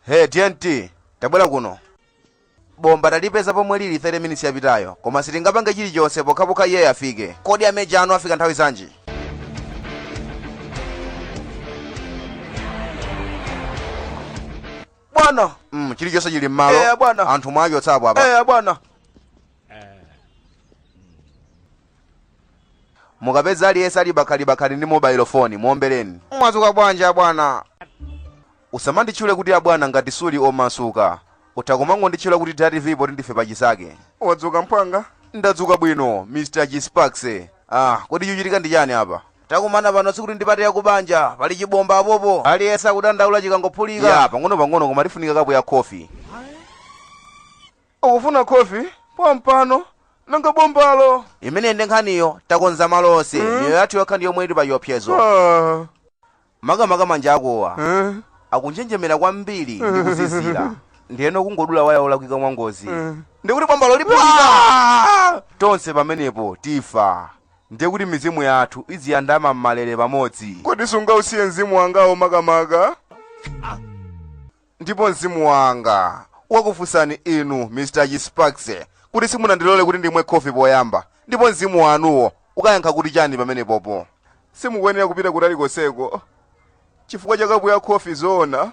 Hey, TNT, tabwera kuno. Bomba talipeza pomwe lili 30 minutes yapitayo, koma sitingapange chilichonse pokhapokha iye afike. Kodi ameja anu afika nthawi zanji? Bwana, Mm, chilichonse chili m'malo. Eh, bwana. Anthu mwachotsapo apa. eh bwana. mukapeza aliyense ali bakhalibakhali ndi mobile phone muombeleni mwadzuka bwanji abwana usamanditchule kuti abwana ngati suli omasuka utha kumangonditchula kuti datv poti ndife pachinzake wadzuka mphwanga ndadzuka bwino mr g-sparks ah kodi chuchitika ndi chani apa takumana pano sikuti ndi party yakubanja pali chibomba apopo aliyense akudandaula chikangophulika ya pang'ono pang'ono koma tifunika kapu ya khofi Ukufuna khofi pompano nanga bombalo? Imeneyi nde nkhaniyo, takonza malo onse, Eh? miyoyo yathu yokha ndi yomwe ili pa chiopsezo. Ah, Makamaka manja angawa eh, akunjenjemera kwambiri ndi kuzizira, ndiyeno kungodula waya olakwika mwangozi. eh. Ndikuti bombalo liphulika! Ah! Tonse pamenepo tifa, ndiye kuti mizimu yathu iziyandama m'malere pamodzi. Kodi sungausiye mzimu wangawo makamaka? Ndipo mzimu wanga ukakufunsani inu, Mr. G-Sparks, kuti simunandilole kuti ndimwe khofi poyamba, ndipo mzimu wanuwo ukayankha kuti chani pamenepopo? Simukuyenera kupita kutali konseko chifukwa cha kapu ya khofi, zoona?